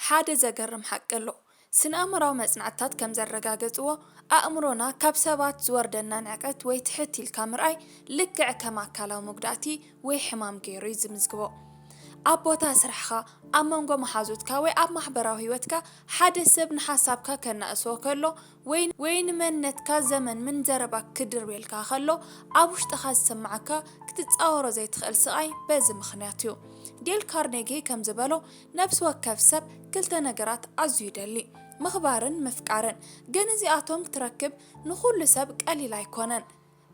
ሓደ ዘገርም ሓቂ ኣሎ። ስነ-ኣእምሮኣዊ መጽናዕትታት ከም ዘረጋገጽዎ፣ ኣእምሮና ካብ ሰባት ዝወርደና ንዕቀት ወይ ትሕት ኢልካ ምርኣይ ልክዕ ከም ኣካላዊ መጉዳእቲ ወይ ሕማም ገይሩ እዩ ዝምዝግቦ። ኣብ ቦታ ስራሕኻ፣ ኣብ መንጎ መሓዙትካ ወይ ኣብ ማሕበራዊ ህይወትካ ሓደ ሰብ ንሓሳብካ ከናእሶ ከሎ ወይ ንመንነትካ ዘመንምን ዘረባ ክድርብየልካ ከሎ ኣብ ውሽጥኻ ዝስምዓካ ክትጻወሮ ዘይትኽእል ስቓይ በዚ ምኽንያት እዩ። ዴል ካርኔጊ ከም ዝበሎ፣ ነፍሲ ወከፍ ሰብ ክልተ ነገራት ኣዝዩ ይደሊ፣ ምኽባርን ምፍቃርን። ግን እዚኣቶም ክትረክብ ንኹሉ ሰብ ቀሊል ኣይኰነን።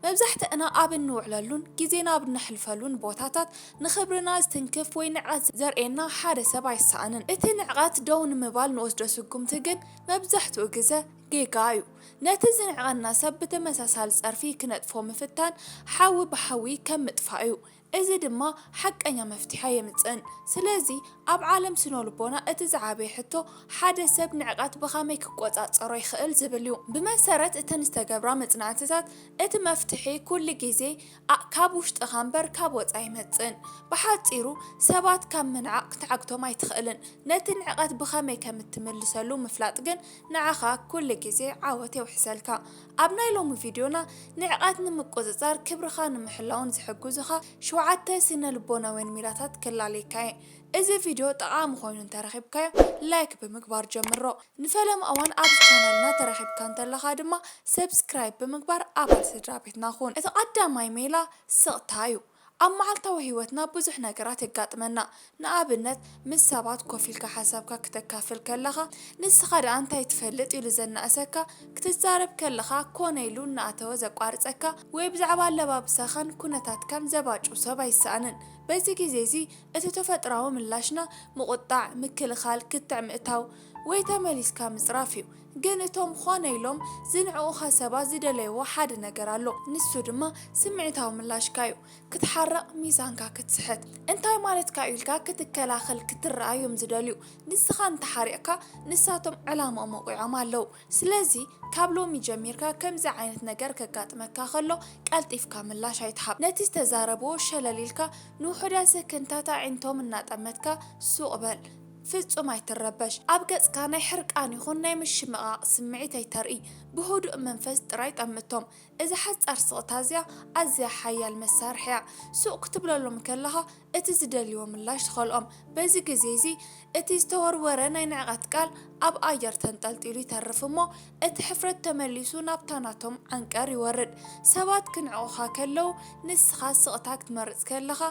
መብዛሕትእና ኣብ እንውዕለሉን ግዜና ኣብ እነሕልፈሉን ቦታታት ንኽብርና ዝትንክፍ ወይ ንዕቀት ዘርእየና ሓደ ሰብ ኣይሰኣንን። እቲ ንዕቀት ደው ንምባል ንወስዶ ስጕምቲ ግን መብዛሕትኡ ግዘ ጌጋ እዩ። ነቲ ዝንዕቀና ሰብ ብተመሳሳሊ ጸርፊ ክነጥፎ ምፍታን ሓዊ ብሓዊ ከም ምጥፋእ እዩ። እዚ ድማ ሓቀኛ መፍትሒ ኣየምጽእን። ስለዚ ኣብ ዓለም ስነልቦና እቲ ዝዓበየ ሕቶ ሓደ ሰብ ንዕቀት ብኸመይ ክቆጻጸሮ ይኽእል ዝብል እዩ። ብመሰረት እተን ዝተገብራ መጽናዕትታት እቲ መፍትሒ ኩሉ ግዜ ካብ ውሽጥኻ እምበር ካብ ወጻኢ ኣይመጽእን። ብሓጺሩ ሰባት ካብ ምንዓቕ ክትዓግቶም ኣይትኽእልን። ነቲ ንዕቀት ብኸመይ ከም እትምልሰሉ ምፍላጥ ግን ንዓኻ ኩሉ ግዜ ዓወት የውሕሰልካ። ኣብ ናይ ሎሚ ቪድዮና፣ ንዕቀት ንምቁጽጻር ክብርኻ ንምሕላውን ዝሕግዙኻ ሸውዓተ ስነ-ልቦናውያን ሜላታት ክላለየካ እየ። እዚ ቪድዮ ጠቓሚ ኮይኑ እንተረኺብካዮ ላይክ ብምግባር ጀምሮ። ንፈለማ እዋን ኣብዚ ቻነልና ተረኺብካ እንተለኻ ድማ ሰብስክራይብ ብምግባር ኣባል ስድራቤትና ኩን። እቲ ቀዳማይ ሜላ ስቕታ እዩ። ኣብ መዓልታዊ ህይወትና ብዙሕ ነገራት የጋጥመና። ንኣብነት፣ ምስ ሰባት ኮፍ ኢልካ ሓሳብካ ክተካፍል ከለኻ፣ ንስኻ ደኣ እንታይ ትፈልጥ ኢሉ ዘናእሰካ፣ ክትዛረብ ከለኻ ኮነ ኢሉ እናኣተወ ዘቋርጸካ፣ ወይ ብዛዕባ ኣለባብሳኻን ኩነታትካን ዘባጩ ሰብ ኣይሰኣንን። በዚ ግዜ'ዚ እቲ ተፈጥሮኣዊ ምላሽና ምቑጣዕ፣ ምክልኻል፣ ክትዕ ምእታው፣ ወይ ተመሊስካ ምጽራፍ እዩ ግን እቶም ኾነ ኢሎም ዝንዕቁኻ ሰባት ዝደለይዎ ሓደ ነገር ኣሎ ንሱ ድማ ስምዒታዊ ምላሽካ እዩ ክትሓርቅ ሚዛንካ ክትስሕት እንታይ ማለትካ እዩ ኢልካ ክትከላኸል ክትርኣ እዮም ዝደልዩ ንስኻ እንተሓሪቅካ ንሳቶም ዕላምኦም ወቂዖም ኣለው ስለዚ ካብ ሎሚ ጀሚርካ ከምዚ ዓይነት ነገር ከጋጥመካ ከሎ ቀልጢፍካ ምላሽ ኣይትሃብ ነቲ ዝተዛረብዎ ሸለል ኢልካ ንውሑዳት ሰከንድታት ኣዒንቶም እናጠመትካ ሱቅ በል ፍጹም ኣይትረበሽ፣ ኣብ ገጽካ ናይ ሕርቃን ይኹን ናይ ምሽምቓቕ ስምዒት ኣይተርኢ፣ ብህዱእ መንፈስ ጥራይ ጠምቶም። እዛ ሓጻር ስቕታ እዚኣ ኣዝያ ሓያል መሳርሒ እያ። ሱቕ ክትብለሎም ከለኻ እቲ ዝደልይዎ ምላሽ ትኸልኦም። በዚ ግዜ እዚ እቲ ዝተወርወረ ናይ ንዕቀት ቃል ኣብ ኣየር ተንጠልጢሉ ይተርፍ እሞ እቲ ሕፍረት ተመሊሱ ናብታ ናቶም ዓንቀር ይወርድ። ሰባት ክንዕቑኻ ከለዉ ንስኻ ስቕታ ክትመርጽ ከለኻ፣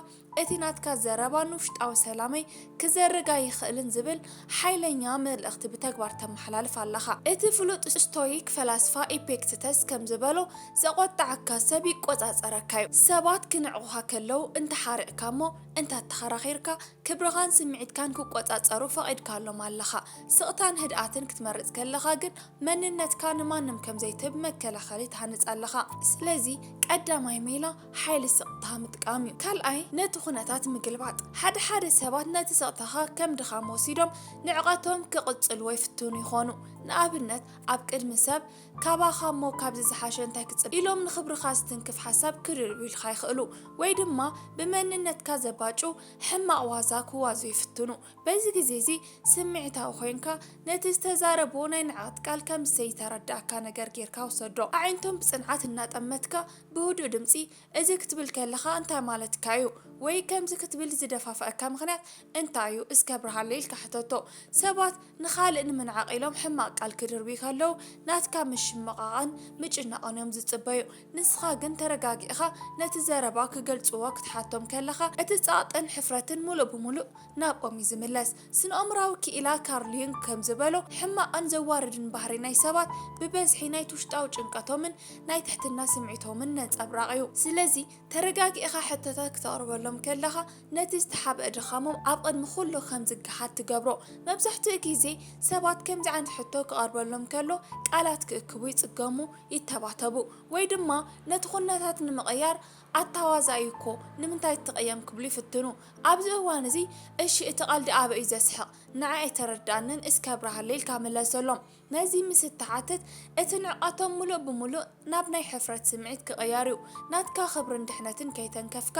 እቲ ናትካ ዘረባ ንውሽጣዊ ሰላመይ ክዘርግ ኣይኽእልን ዝብል ሓይለኛ መልእኽቲ ብተግባር ተመሓላልፍ ኣለኻ። እቲ ፍሉጥ ስቶይክ ፈላስፋ ኢፔክትተስ ከም ዝበሎ፣ ዘቖጠዓካ ሰብ ይቆጻጸረካ'ዩ። ሰባት ክንዕቑኻ ከለዉ እንተ ሓሪቕካ እሞ እንተ ኣተኻራኺርካ፣ ክብርኻን ስምዒትካን ክቆጻጸሩ ፈቒድካሎም ኣለኻ። ስቕታን ህድኣትን ክትመርጽ ከለኻ ግን መንነትካ ንማንም ከም ዘይትህብ መከላኸሊ ትሃንጽ ኣለኻ። ስለዚ ቀዳማይ ሜላ ሓይሊ ስቕታ ምጥቃም እዩ። ካልኣይ፣ ነቲ ኩነታት ምግልባጥ። ሓደ ሓደ ሰባት ነቲ ስቕታኻ ከም ድኻም ወሲዶም ንዕቐቶም ክቕጽልዎ ይፍትኑ ይኾኑ። ንኣብነት፣ ኣብ ቅድሚ ሰብ፣ ካባኻ እሞ ካብዚ ዝሓሸ እንታይ ክጽበ? ኢሎም ንኽብርኻ ዝትንክፍ ሓሳብ ክርድኡልካ ይኽእሉ። ወይ ድማ ብመንነትካ ዘባጩ ሕማቕ ዋዛ ክዋዙ ይፍትኑ። በዚ ግዜ እዚ ስምዒታዊ ኮይንካ ነቲ ዝተዛረብዎ ናይ ንዕቐት ቃል ከም ዘይተረድኣካ ነገር ጌርካ ውሰዶ። ኣዒንቶም ብጽንዓት እናጠመትካ ብህዱእ ድምጺ፣ እዚ ክትብል ከለኻ እንታይ ማለትካ እዩ? ወይ ከምዚ ክትብል ዝደፋፍኣካ ምኽንያት እንታይ እዩ? እስከ ኣብርሃለይ ኢልካ ሕተቶ። ሰባት ንኻልእ ንምንዓቕ ኢሎም ሕማቕ ቃል ክድርብዩ ከለዉ፣ ናትካ ምሽምቓቕን ምጭናቕን እዮም ዝጽበዩ። ንስኻ ግን ተረጋጊእኻ ነቲ ዘረባ ክገልጽዎ ክትሓቶም ከለኻ፣ እቲ ጸቕጥን ሕፍረትን ምሉእ ብምሉእ ናብኦም እዩ ዝምለስ። ስነኣእምሮኣዊ ክኢላ ካርል ዩንግ ከም ዝበሎ፣ ሕማቕን ዘዋርድን ባህሪ ናይ ሰባት ብበዝሒ ናይቲ ውሽጣዊ ጭንቀቶምን ናይ ትሕትና ስምዒቶምን ነጸብራቕ እዩ። ስለዚ፣ ተረጋጊእኻ ሕቶታት ክተቕርበሎም ከለኻ፣ ነቲ ዝተሓብአ ድኻሞም ኣብ ቕድሚ ዅሉ ኸም ዚገሃድ ትገብሮ። መብዛሕትኡ ግዜ፣ ሰባት ከምዚ ዓይነት ሕቶ ኪቐርበሎም ከሎ፣ ቃላት ኪእክቡ ይጽገሙ፣ ይተባተቡ፣ ወይ ድማ ነቲ ዅነታት ንምቕያር ኣታ ዋዛ እዩ እኮ ንምንታይ ትትቐየም ክብሉ ይፍትኑ ኣብዚ እዋን እዚ እሺ እቲ ቐልዲ ኣበይ እዩ ዘስሕቕ ንዓይ ኣይተረደኣንን እስኪ ኣብርሃለይ ኢልካ ምለሰሎም ነዚ ምስ እትሓትት እቲ ንዕቀቶም ሙሉእ ብሙሉእ ናብ ናይ ሕፍረት ስምዒት ክቕየር እዩ ናትካ ክብርን ድሕነትን ከይተንከፍካ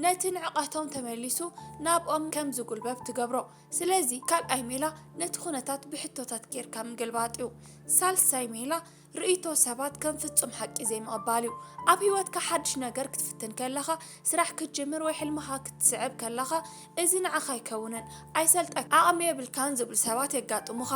ነቲ ንዕቀቶም ተመሊሱ ናብኦም ከም ዝጉልበብ ትገብሮ ስለዚ ካልኣይ ሜላ ነቲ ኩነታት ብሕቶታት ጌርካ ምግልባጥ እዩ ሳልሳይ ሜላ ርእይቶ ሰባት ከም ፍጹም ሓቂ ዘይምቕባል እዩ። ኣብ ህይወትካ ሓድሽ ነገር ክትፍትን ከለኻ፣ ስራሕ ክትጅምር ወይ ሕልምኻ ክትስዕብ ከለኻ፣ እዚ ንዓኻ ኣይከውንን፣ ኣይሰልጠካን፣ ዓቕሚ የብልካን ዝብሉ ሰባት የጋጥሙኻ።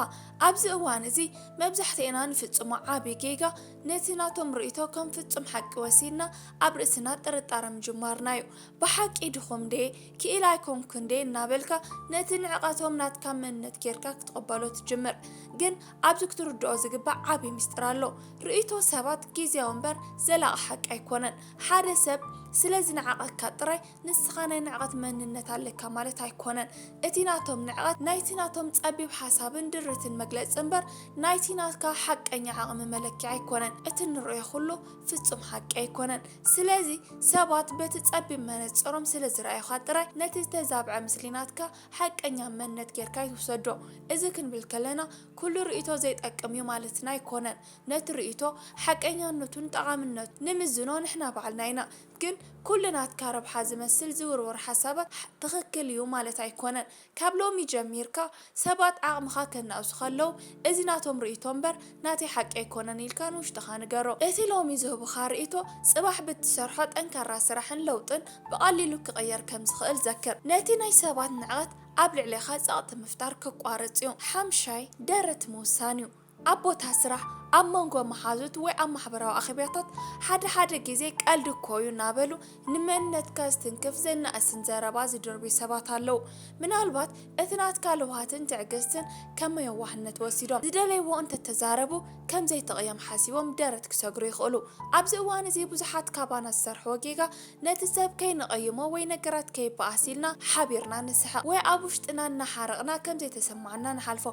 ኣብዚ እዋን እዚ መብዛሕትኤና ንፍጽሞ ዓቢ ጌጋ ነቲ ናቶም ርእይቶ ከም ፍጹም ሓቂ ወሲድና ኣብ ርእስና ጥርጣረ ምጅማርና እዩ። ብሓቂ ድኹም ድየ? ክኢላ ኣይኮንኩን ድየ? እናበልካ ነቲ ንዕቀቶም ናትካ መንነት ጌርካ ክትቕበሎ ትጅምር። ግን ኣብዚ ክትርድኦ ዝግባእ ዓቢ ምስጢር ኣሎ። ርእይቶ ሰባት ግዝያዊ እምበር ዘላቂ ሓቂ ኣይኮነን። ሓደ ሰብ ስለ ዝንዕቐካ ጥራይ ንስኻ ናይ ንዕቐት መንነት ኣለካ ማለት ኣይኮነን። እቲ ናቶም ንዕቐት ናይቲ ናቶም ጸቢብ ሓሳብን ድርትን መግለጺ እምበር ናይቲ ናትካ ሓቀኛ ዓቕሚ መለኪዒ ኣይኮነን። እቲ እንርእዮ ኩሉ ፍጹም ሓቂ ኣይኮነን። ስለዚ ሰባት በቲ ጸቢብ መነጽሮም ስለ ዝረኣዩኻ ጥራይ ነቲ ዝተዛብዐ ምስሊ ናትካ ሓቀኛ መነት ጌርካ ኣይትውሰዶ። እዚ ክንብል ከለና ኩሉ ርእይቶ ዘይጠቅም እዩ ማለትና ኣይኮነን። ነቲ ርእይቶ ሓቀኛነቱን ጠቓምነቱን ንምዝኖ ንሕና ባዕልና ኢና። ግን ኩሉ ናትካ ረብሓ ዝመስል ዝውርወር ሓሳባት ትኽክል እዩ ማለት ኣይኮነን። ካብ ሎሚ ጀሚርካ ሰባት ዓቕምኻ ከናእሱ ከለው እዚ ናቶም ርእይቶ እምበር ናተይ ሓቂ ኣይኮነን ኢልካ ንውሽጥኻ ንገሮ። እቲ ሎሚ ዝህቡኻ ርእይቶ ጽባሕ ብትሰርሖ ጠንካራ ስራሕን ለውጥን ብቐሊሉ ክቕየር ከም ዝኽእል ዘክር። ነቲ ናይ ሰባት ንዕቐት ኣብ ልዕሌኻ ጸቕጢ ምፍጣር ከቋርጽ'ዩ። ሓምሻይ፣ ደረት ምውሳን'ዩ። ኣብ ቦታ ስራሕ፣ ኣብ መንጎ መሓዙት ወይ ኣብ ማሕበራዊ ኣኼባታት ሓደ ሓደ ግዜ ቀልዲ እኮ'ዩ እናበሉ ንመንነትካ ዝትንክፍ ዘናእስን ዘረባ ዝድርብዩ ሰባት ኣለዉ። ምናልባት እቲ ናትካ ለውሃትን ትዕግስትን ከም የዋህነት ወሲዶም ዝደለይዎ እንተተዛረቡ ከም ዘይትቕየም ሓሲቦም ደረት ክሰግሩ ይኽእሉ። ኣብዚ እዋን'ዚ ብዙሓት ካባና ዝሰርሕዎ ጌጋ ነቲ ሰብ ከይንቐይሞ ወይ ነገራት ከይበኣስ ኢልና ሓቢርና ንስሕቕ ወይ ኣብ ውሽጥና እናሓረቕና ከም ዘይተሰምዓና ንሓልፎ።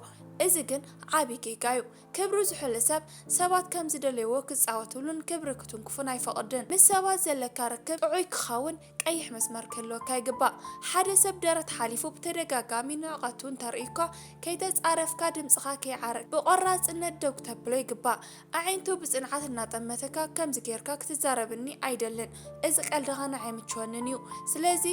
እዚ ግን ዓቢ ጌጋ እዩ። ክብሩ ዝሑል ሰብ፣ ሰባት ከም ዝደለይዎ ክጻወትሉን ክብሪ ክትንክፉን ኣይፈቕድን። ምስ ሰባት ዘለካ ርክብ ጥዑይ ክኸውን ቀይሕ መስመር ክህልወካ ይግባእ። ሓደ ሰብ ደረት ሓሊፉ ብተደጋጋሚ ንዕቐቱ እንተርእዩካ፣ ከይተጻረፍካ ድምጽኻ ከይዓርግ ብቖራጽነት ደው ክተብሎ ይግባእ። ኣዒንቱ ብጽንዓት እናጠመተካ ከምዚ ጌርካ ክትዛረብኒ ኣይደልን እዚ ቀልድኻ ንዓይ ኣይምችወንን እዩ ስለዚ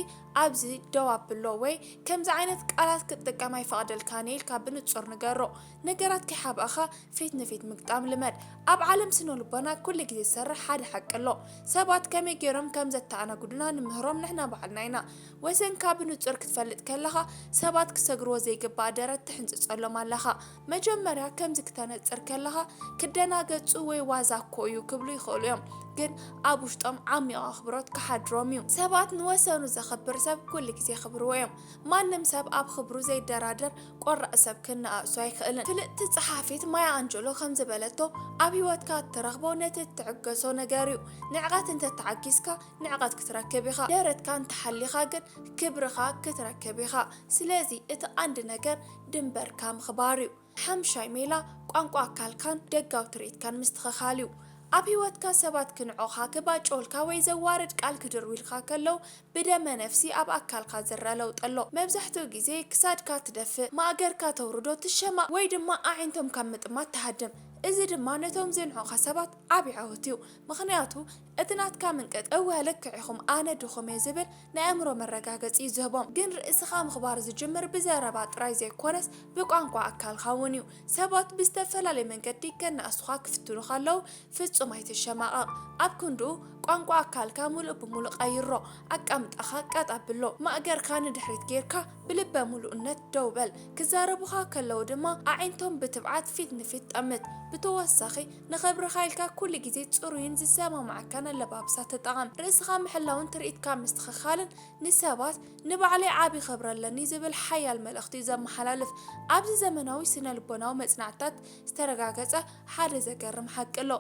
ኣብዚ ደው ኣብሎ ወይ ከምዚ ዓይነት ቃላት ክትጥቀም ኣይፈቕደልካን እየ ኢልካ ብንጹር ንገሮ ነገራት ከይሓብእኻ ፊት ንፊት ምግጣም ልመድ ኣብ ዓለም ስነልቦና ኩሉ ግዜ ዝሰርሕ ሓደ ሓቂ ኣሎ ሰባት ከመይ ጌሮም ከም ዘተኣናግዱና ንምህሮም ንሕና ባዕልና ኢና ወሰንካ ብንጹር ክትፈልጥ ከለኻ ሰባት ክሰግርዎ ዘይግባእ ደረት ትሕንጽጸሎም ኣለኻ መጀመርያ ከምዚ ክተነጽር ከለኻ ክደናገጹ ወይ ዋዛ እኮ እዩ ክብሉ ይኽእሉ እዮም፣ ግን ኣብ ውሽጦም ዓሚቝ ኣኽብሮት ክሓድሮም እዩ። ሰባት ንወሰኑ ዘኽብር ሰብ ኩሉ ግዜ የኽብርዎ እዮም። ማንም ሰብ ኣብ ኽብሩ ዘይደራደር ቆራጽ ሰብ ክነኣእሱ ኣይክእልን። ፍልጥቲ ጸሓፊት ማያ ኣንጀሎ ከምዚ በለቶ፣ ኣብ ህይወትካ እትረኽቦ ነቲ እትዕገሶ ነገር እዩ። ንዕቀት እንተ ተዓጊስካ ንዕቀት ክትረክብ ኢኻ፣ ደረትካ እንተ ሓሊኻ ግን ክብርኻ ክትረክብ ኢኻ። ስለዚ እቲ ቐንዲ ነገር ድንበርካ ምኽባር እዩ። ሓምሻይ ሜላ ቋንቋ ኣካልካን ደጋዊ ትርኢትካን ምስትኸኻል እዩ። ኣብ ህይወትካ ሰባት ክንዕቑኻ፣ ክባጭዉልካ ወይ ዘዋርድ ቃል ክድርብዩልካ ከለዉ ብደመ ነፍሲ ኣብ ኣካልካ ዝረኣ ለውጢ ኣሎ። መብዛሕትኡ ግዜ ክሳድካ ትደፍእ፣ ማእገርካ ተውርዶ፣ ትሸማቕ ወይ ድማ ኣዒንቶም ካብ ምጥማት ትሃድም። እዚ ድማ ነቶም ዝንዕቑኻ ሰባት ዓቢ ዓወት እዩ። ምኽንያቱ እቲ ናትካ ምንቅጥ እወ ልክዕ ኢኹም ኣነ ድኹም እየ ዝብል ናይ ኣእምሮ መረጋገጺ እዩ ዝህቦም። ግን ርእስኻ ምኽባር ዝጅምር ብዘረባ ጥራይ ዘይኮነስ ብቋንቋ ኣካልኻ እውን እዩ። ሰባት ብዝተፈላለየ መንገዲ ከናእሱኻ ክፍትኑ ከለዉ ፍጹም ኣይትሸማቐቕ። ኣብ ክንድኡ ቋንቋ ኣካልካ ምሉእ ብምሉእ ቀይሮ። ኣቃምጣኻ ቀጥ ኣብሎ። ማእገርካ ንድሕሪት ጌርካ ብልበ ምሉእነት ደው በል። ክዛረቡኻ ከለዉ ድማ ኣዒንቶም ብትብዓት ፊት ንፊት ጠምት። ብተወሳኺ፣ ንኽብርኻ ኢልካ ኩሉ ግዜ ጽሩይን ዝሰማምዓካን ኣለባብሳ ተጠቐም። ርእስኻ ምሕላውን ትርኢትካ ምስትኽኻልን ንሰባት ንባዕለይ ዓቢ ክብሪ ኣለኒ ዝብል ሓያል መልእኽቲ እዩ ዘመሓላልፍ። ኣብዚ ዘመናዊ ስነልቦናዊ መጽናዕትታት ዝተረጋገጸ ሓደ ዘገርም ሓቂ ኣሎ።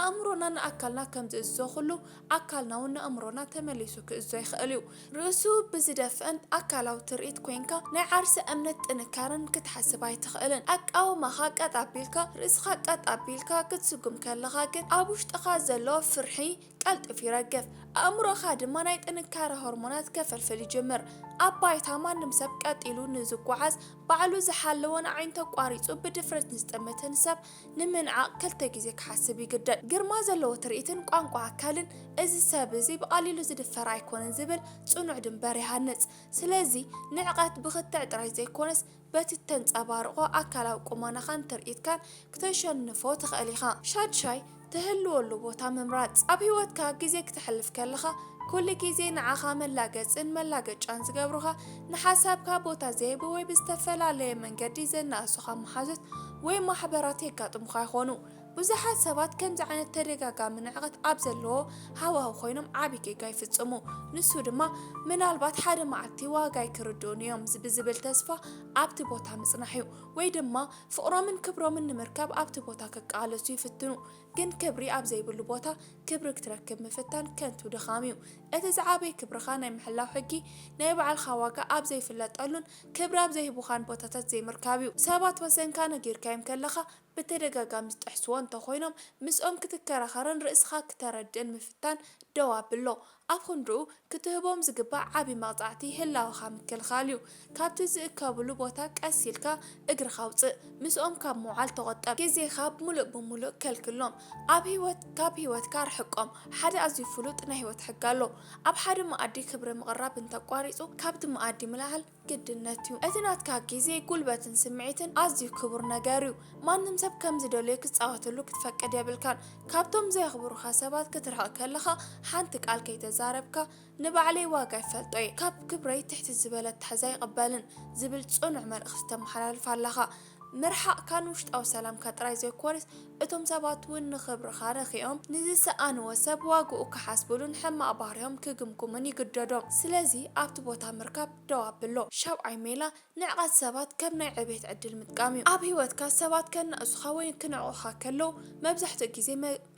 ኣእምሮና ንኣካልና ከም ዝእዝዞ ኹሉ ኣካልና'ውን ንኣእምሮና ተመሊሱ ክእዝዞ ይኽእል እዩ። ርእሱ ብዝደፍእን ኣካላዊ ትርኢት ኮይንካ ናይ ዓርሰ እምነት ጥንካረን ክትሓስብ ኣይትኽእልን። ኣቃውማኻ ቀጥ ኣቢልካ፣ ርእስኻ ቀጥ ኣቢልካ ክትስጉም ከለኻ ግን ኣብ ውሽጥኻ ዘሎ ፍርሒ ቀልጢፉ ይረግፍ። ኣእምሮኻ ድማ ናይ ጥንካረ ሆርሞናት ከፈልፍል ይጅምር። ኣብ ባይታ ማንም ሰብ ቀጥ ኢሉ ንዝጓዓዝ፣ ባዕሉ ዝሓለወን ኣዒንቱ ኣቋሪጹ ብድፍረት ንዝጥምትን ሰብ ንምንዓቕ ክልተ ግዜ ክሓስብ ይግደድ። ግርማ ዘለዎ ትርኢትን ቋንቋ ኣካልን እዚ ሰብ እዚ ብቐሊሉ ዝድፈር ኣይኮነን ዝብል ጽኑዕ ድምበር ይሃንጽ። ስለዚ ንዕቀት ብክትዕ ጥራይ ዘይኮነስ በቲ እተንጸባርቖ ኣካላዊ ቁመናኻን ትርኢትካን ክተሸንፎ ትኽእል ኢኻ። ሻድሻይ፣ ትህልወሉ ቦታ ምምራጽ። ኣብ ህይወትካ ግዜ ክተሕልፍ ከለኻ ኩሉ ግዜ ንዓኻ መላገጽን መላገጫን ዝገብሩኻ፣ ንሓሳብካ ቦታ ዘይህቡ ወይ ብዝተፈላለየ መንገዲ ዘናእሱኻ መሓዙት ወይ ማሕበራት የጋጥሙኻ ይኾኑ። ብዙሓት ሰባት ከምዚ ዓይነት ተደጋጋሚ ንዕቀት ኣብ ዘለዎ ሃዋህው ኮይኖም ዓቢ ጌጋ ይፍጽሙ። ንሱ ድማ ምናልባት ሓደ መዓልቲ ዋጋይ ክርድኡኒ እዮም ብዝብል ተስፋ ኣብቲ ቦታ ምጽናሕ እዩ። ወይ ድማ ፍቕሮምን ክብሮምን ንምርካብ ኣብቲ ቦታ ክቃለሱ ይፍትኑ። ግን ክብሪ ኣብ ዘይብሉ ቦታ ክብሪ ክትረክብ ምፍታን ከንቱ ድኻም እዩ። እቲ ዝዓበየ ክብርኻ ናይ ምሕላው ሕጊ ናይ ባዕልኻ ዋጋ ኣብ ዘይፍለጠሉን ክብሪ ኣብ ዘይህቡኻን ቦታታት ዘይምርካብ'ዩ። ሰባት ወሰንካ ነጊርካዮም ከለኻ ብተደጋጋሚ ዝጥሕስዎ እንተኾይኖም ምስኦም ክትከራኸርን ርእስኻ ክተረድእን ምፍታን ደው ኣብሎ። ኣብ ኽንድኡ ክትህቦም ዝግባእ ዓቢ መቕጻዕቲ ህላወኻ ምክልኻል'ዩ። ካብቲ ዝእከብሉ ቦታ ቀስ ኢልካ እግርኻ ኣውጽእ። ምስኦም ካብ ምውዓል ተቖጠብ። ግዜኻ ምሉእ ብምሉእ ከልክሎም። ኣብ ህይወት ካብ ህይወትካ ርሕቆም። ሓደ ኣዝዩ ፍሉጥ ናይ ህይወት ሕጊ ኣሎ፣ ኣብ ሓደ መኣዲ ክብሪ ምቕራብ እንተቋሪጹ ካብቲ መኣዲ ምልዓል ግድነት'ዩ። እቲ ናትካ ግዜ፣ ጉልበትን ስምዒትን ኣዝዩ ክቡር ነገር'ዩ። ማንም ሰብ ከም ዝደለዮ ክጻወተሉ ክትፈቅድ የብልካን። ካብቶም ዘየኽብሩኻ ሰባት ክትርሕቕ ከለኻ ሓንቲ ቃል ከይተዛረብካ፣ ንባዕለይ ዋጋ ይፈልጦ'የ፣ ካብ ክብረይ ትሕቲ ዝበለ ኣተሓሕዛ ኣይቕበልን ዝብል ጽኑዕ መልእኽቲ ተመሓላልፍ ኣለኻ። ምርሓቕካን ውሽጣዊ ሰላምካ ጥራይ ዘይኮነስ እቶም ሰባት እውን ንኽብርኻ ረኪኦም ንዝሰኣንዎ ሰብ ዋግኡ ክሓስብሉን ሕማቕ ባህርዮም ክግምግሙን ይግደዶም። ስለዚ ኣብቲ ቦታ ምርካብ ደው ኣብሎ። ሻብዓይ ሜላ ንዕቀት ሰባት ከም ናይ ዕብየት ዕድል ምጥቃም እዩ። ኣብ ህይወትካ ሰባት ከናእሱኻ ወይ ክንዕቑኻ ከለዉ መብዛሕትኡ ግዜ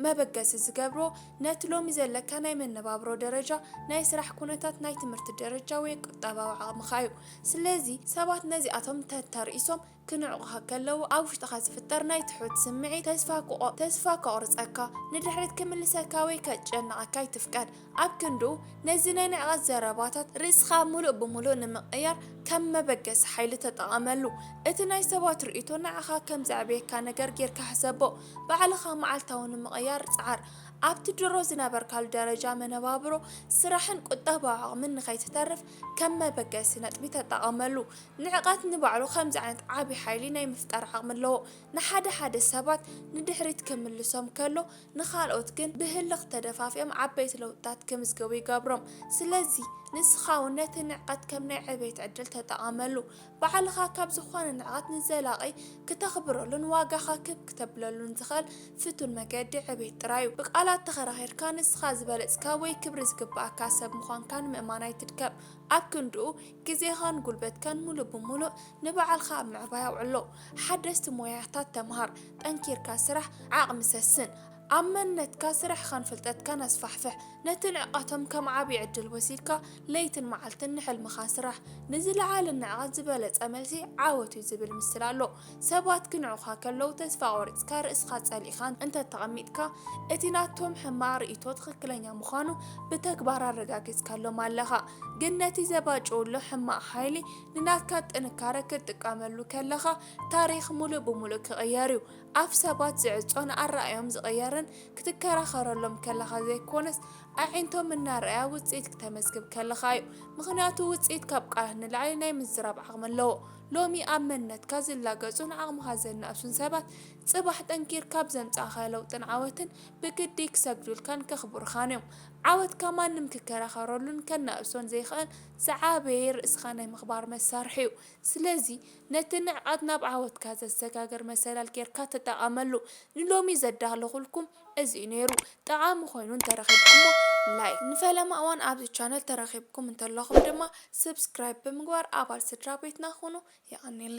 መበገሲ ዝገብሮ ነቲ ሎሚ ዘለካ ናይ መነባብሮ ደረጃ፣ ናይ ስራሕ ኩነታት፣ ናይ ትምህርቲ ደረጃ ወይ ቁጠባዊ ዓቕምኻ እዩ። ስለዚ ሰባት ነዚኣቶም ተተርኢሶም ክንዕቑኻ ከለዉ ኣብ ውሽጥኻ ዝፍጠር ናይ ትሑት ስምዒት ተስፋ ክቖ ተስፋ ከቑርጸካ፣ ንድሕሪት ክምልሰካ ወይ ከጨንቐካ ኣይትፍቀድ። ኣብ ክንዱ ነዚ ናይ ንዕቀት ዘረባታት ርእስኻ ምሉእ ብምሉእ ንምቕያር ከም መበገሲ ሓይሊ ተጠቐመሉ። እቲ ናይ ሰባት ርእይቶ ንዓኻ ከም ዘዕብየካ ነገር ጌርካ ሕሰቦ። ባዕልኻ መዓልታዊ ንምቕያር ጽዓር። ኣብቲ ድሮ ዝነበርካሉ ደረጃ መነባብሮ፣ ስራሕን ቁጠባዊ ዓቕምን ንኸይትተርፍ ከም መበገሲ ነጥቢ ተጠቐመሉ። ንዕቀት ንባዕሉ ከምዚ ዓይነት ዓቢ ሓይሊ ናይ ምፍጣር ዓቕሚ ኣለዎ። ንሓደ ሓደ ሰባት ንድሕሪት ክምልሶም ከሎ፣ ንኻልኦት ግን ብህልኽ ተደፋፊኦም ዓበይቲ ለውጥታት ክምዝገቡ ይገብሮም። ስለዚ፣ ንስኻ እውን ነቲ ንዕቀት ከም ናይ ዕቤት ዕድል ተጠቐመሉ። ባዕልኻ ካብ ዝኾነ ንዕቐት ንዘላቒ ክተኽብረሉን ዋጋኻ ክብ ክተብለሉን ዝኽእል ፍቱን መገዲ ዕቤት ጥራይ እዩ። ብቃላት ተኸራኺርካ ንስኻ ዝበለጽካ ወይ ክብሪ ዝግብኣካ ሰብ ምዃንካ ንምእማን ኣይትድከም። ኣብ ክንድኡ ግዜኻን ጉልበትካን ምሉእ ብምሉእ ንባዕልኻ ኣብ ምዕባይ ኣውዕሎ። ሓደስቲ ሞያታት ተምሃር፣ ጠንኪርካ ስራሕ፣ ዓቕሚ ሰስን። ኣብ መንነትካ፣ ስራሕኻን ፍልጠትካን ኣስፋሕፍሕ። ነቲ ንዕቀቶም ከም ዓቢ ዕድል ወሲድካ ለይትን መዓልትን ንሕልምኻ ስራሕ። ንዝለዓለ ንዕቀት ዝበለጸ መልሲ ዓወት'ዩ ዝብል ምስላ ኣሎ። ሰባት ክንዕቑኻ ከለዉ ተስፋ ቆሪጽካ ርእስኻ ጸሊእኻን እንተ ተቐሚጥካ፣ እቲ ናቶም ሕማቕ ርእይቶ ትኽክለኛ ምዃኑ ብተግባር ኣረጋጊጽካሎም ኣለኻ። ግን ነቲ ዘባጭውሉ ሕማቕ ሓይሊ ንናትካ ጥንካረ ክትጥቀመሉ ከለኻ፣ ታሪኽ ምሉእ ብምሉእ ክቕየር'ዩ። ኣፍ ሰባት ዝዕጾን ኣረኣእያኦም ዝቕየርን ክትከራኸረሎም ከለኻ ዘይኮነስ፣ ኣዒንቶም እናረኣያ ውጽኢት ክተመዝግብ ከለኻ'ዩ። ምኽንያቱ ውጽኢት ካብ ቃላት ንላዕሊ ናይ ምዝራብ ዓቕሚ ኣለዎ። ሎሚ ኣብ መንነትካ ዝላገጹን ዓቕምኻ ዘናእሱን ሰባት፣ ጽባሕ ጠንኪርካ ኣብ ዘምጻእኻዮ ለውጥን ዓወትን ብግዲ ክሰግዱልካን ከኽብሩኻን እዮም። ዓወትካ ማንም ክከራኸረሉን ከናእሶን ዘይክእል ዝዓበየ ርእስኻ ናይ ምኽባር መሳርሒ'ዩ። ስለዚ ነቲ ንዕቀት ናብ ዓወትካ ዘሰጋግር መሰላል ጌርካ ተጠቐመሉ። ንሎሚ ዘዳለኹልኩም። እዚ እዩ ነይሩ ጠቓሚ ኮይኑ እንተረኺብኩሞ ላይክ። ንፈለማ እዋን ኣብዚ ቻነል ተረኺብኩም እንተለኹም ድማ ስብስክራይብ ብምግባር ኣባል ስድራ ቤትና ኹኑ። የቐኔለይ።